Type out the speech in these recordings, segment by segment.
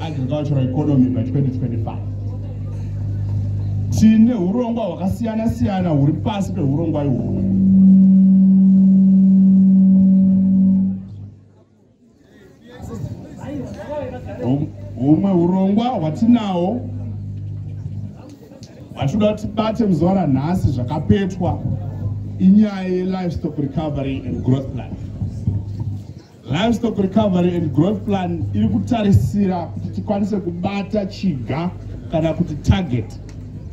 agricultural economy by 2025 tine urongwa hwakasiyana siyana huri pasi peurongwa ihwohwo humwe urongwa hwatinawo hwatinoda kuti tibate muzuva ranhasi zvakapetwa inyaya yelivestock recovery and growth plan Livestock Recovery and Growth Plan iri kutarisira kuti tikwanise kubata chiga kana kuti target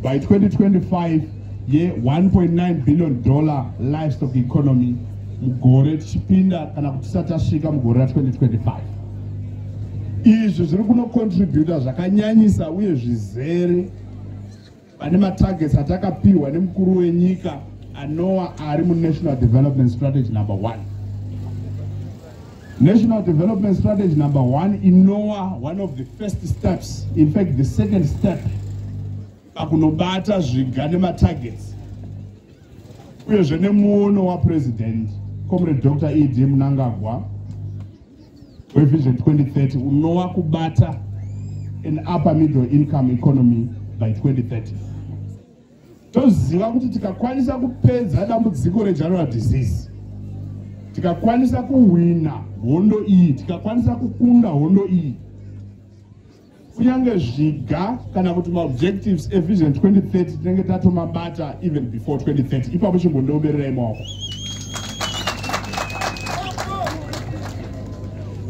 by 2025 ye 1.9 billion dollar livestock economy mugore tichipinda kana kuti tisati tasvika mugore ra 2025 izvi zviri kunocontributa zvakanyanyisa uye zvizere Pane matargets atakapihwa nemukuru wenyika anowa ari munational development strategy number one National Development Strategy number one, INOA, one of the first steps, in fact, the second step, pakunobata zviga nematargets uyezve nemuono wapresident comrade dr ed munangagwa wevision 2030 unova kubata an upper middle income economy by 2030 toziva kuti tikakwanisa kupedza dambudziko regeneral disease tikakwanisa kuhwina hondo iyi tikakwanisa kukunda hondo iyi kunyange zviga kana kuti maobjectives evision 2030 tinenge tatomabata even before 2030 ipapo chimbondiobererai maoko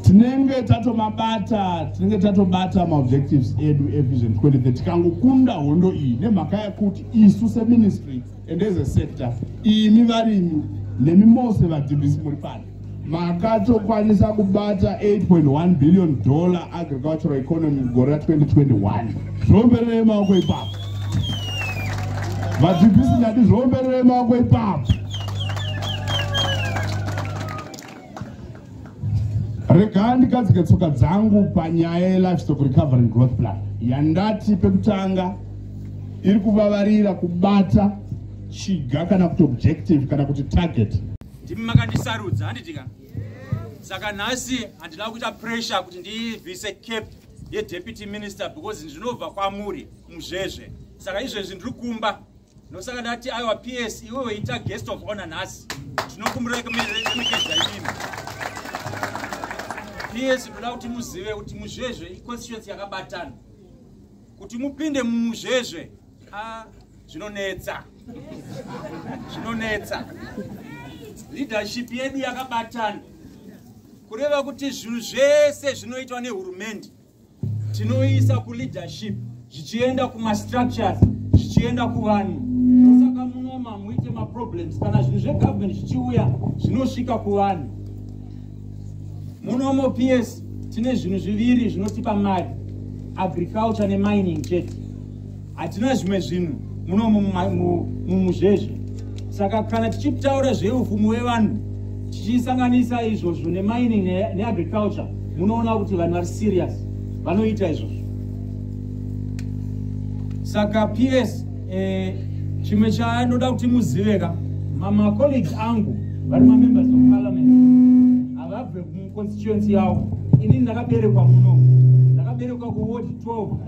tinenge tatomabata tinenge tatobata maobjectives edu evision 2030 tikangokunda hondo iyi nemhaka yekuti isu seministry and as a sector imi varimi nemi mose vadhibhisi muri pano makatokwanisa kubata 8.1 billion dollar agricultural economy mugore ra 2021 zviombererei maoko ipapo vadzivisi ndati zviombererei maoko ipapo regaa ndikadzike tsoka dzangu panyaya yelivestock recovery growth plan yandati pekutanga iri kuvavarira kubata chiga kana kuti objective kana kuti target ndimi makandisarudza handiti ka saka nhasi handina kuita pressure kuti ndivhise cap yedeputy minister because ndinobva kwamuri muzvezve saka izvezvi ndiri kumba ndosaka ndati aiwa ps iwe weita guest of honor nhasi tinokumbira kumeremekedza imimi ps ndoda kuti muzive kuti muzvezve iconstituency yakabatana kuti mupinde mumuzvezve ah. zvinonetsa zvinonetsa leadership yedu yakabatana kureva kuti zvinhu zvese zvinoitwa nehurumende tinoisa kuleadership zvichienda kumastructures zvichienda kuvanhu saka munoma muite maproblems kana zvinhu zvegovernment zvichiuya zvinosvika kuvanhu munomo ps tine zvinhu zviviri zvinotipa mari agriculture nemining chete hatina zvimwe zvinhu muno mumuzvezve saka kana tichitaura zveupfumi wevanhu tichisanganisa izvozvo nemining neagriculture munoona kuti vanhu vari serious vanoita izvozvo saka ps eh, chimwe chandinoda kuti muzive ka mamacolleague angu vari mamembers of parliament havabve muconstituency yavo inini ndakaberekwa muno ndakaberekwa kuward 12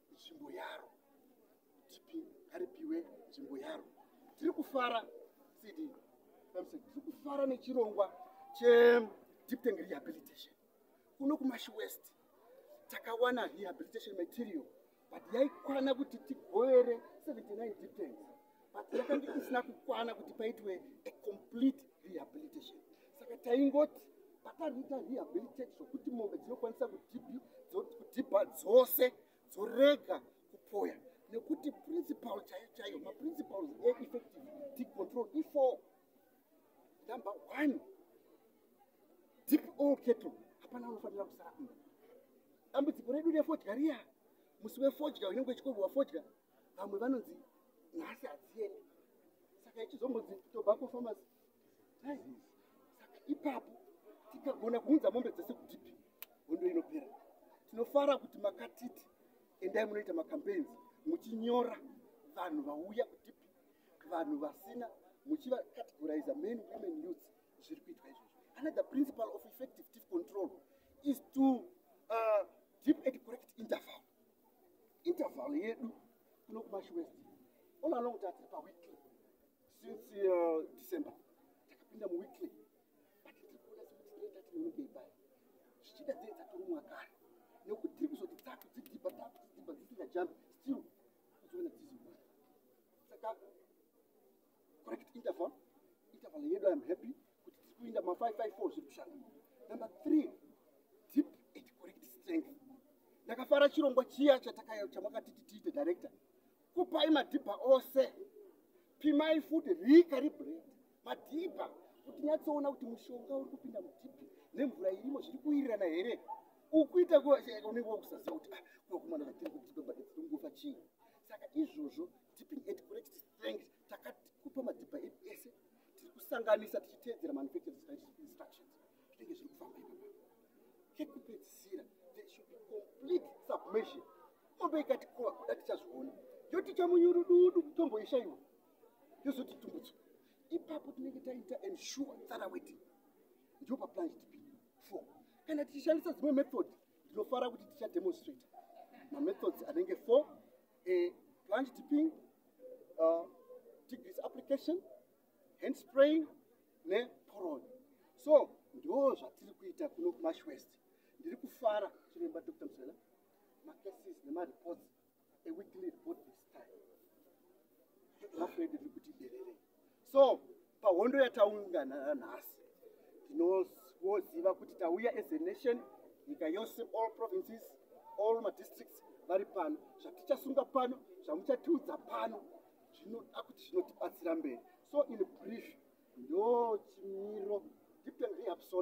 nzvimbo yaro tipi ngaripiwe nzvimbo yaro tiri kufara cd tiri kufara nechirongwa chedipteng rehabilitation kuno kumashi west takawana rehabilitation material but yaikwana kuti tigovere 79 dipteng but yakange isina kukwana kuti paitwe a complete rehabilitation saka taingoti pakariita rehabilitate zvokuti mombe dzinokwanisa kudhibha dzose dzorega kupoya nekuti principal chaiyo chaiyo maprincipals eeffective deep control ifo number one deep all keto hapana unofanira kusara dambudziko redu refodya riya musi wefodya unenge uchikoviwa fodya vamwe vanonzi nhasi hadziendi saka ichizombonzi tobacco farmers saka ipapo tikagona kuunza mombe dzese kutipi hondo inopera tinofara kuti makatiti endai munoita macampaigns muchinyora vanhu vauya kutipi vanhu vasina muchivacategorize men women youth zviri kuitwa izvozvo another principle of effective tiff control is to uh, deep and correct interval interval yedu kuno kumash west all along tatiri paweekly since uh, december takapinda muweekly but tiri kuona sekuti tine tatinenge ibaya zvichida dzei dzatorumwa kare nekuti tiri kuzoti tatu dzidhiba tatu dzidhiba dzisingajambi still kuzoona dziziwa saka correct interval interval yedu iam happy kuti tiri kuinda ma 554 zviri kushanda number three deep and correct strength ndakafara chirongwa chiya chatakaya chamakatiti tiite director kupai madhibha ose pimai futi rika ribred madhibha kuti nyatsoona kuti mushonga uri kupinda mudhibhi nemvura irimo zviri kuwirirana here ukuita eh, unenge wakusaziva kuti ah, kunokumana vatiri kuti tinobatidzinongofa chii saka izvozvo tipping at correct thanks takakupa madhibha edu ese tiri kusanganisa tichiteedzera manufacturing instructions zvinenge zviri kufamba ipapa chekupedzisira there should be complete submission ombe ikati koa kuda tichazviona yoti chamunyurududu tomboishaiwa yozoti tumbudzo ipapo tinenge taita ensure tsara weti ndio paplan gdp four kana tichishandisa dzimwe method ndinofara kuti tichademonstrate mamethods anenge four a plunge tipping, uh, degrees application, hand spraying, ne poron. So, ndo zvatiri kuita kuno kumash west. Ndiri kufara chiremba Dr. Msela, macases nemareports, a weekly report this time. Mafredi ndiri kuti derere. so pahondo yataungana nhasi tinoziva kuti tauya as a nation nyika yose all provinces all madistricts vari pano zvatichasunga pano zvamuchatiudza pano zvinoda kuti zvinotibatsira mberi so in brief ndo chimiro deep and reabsorb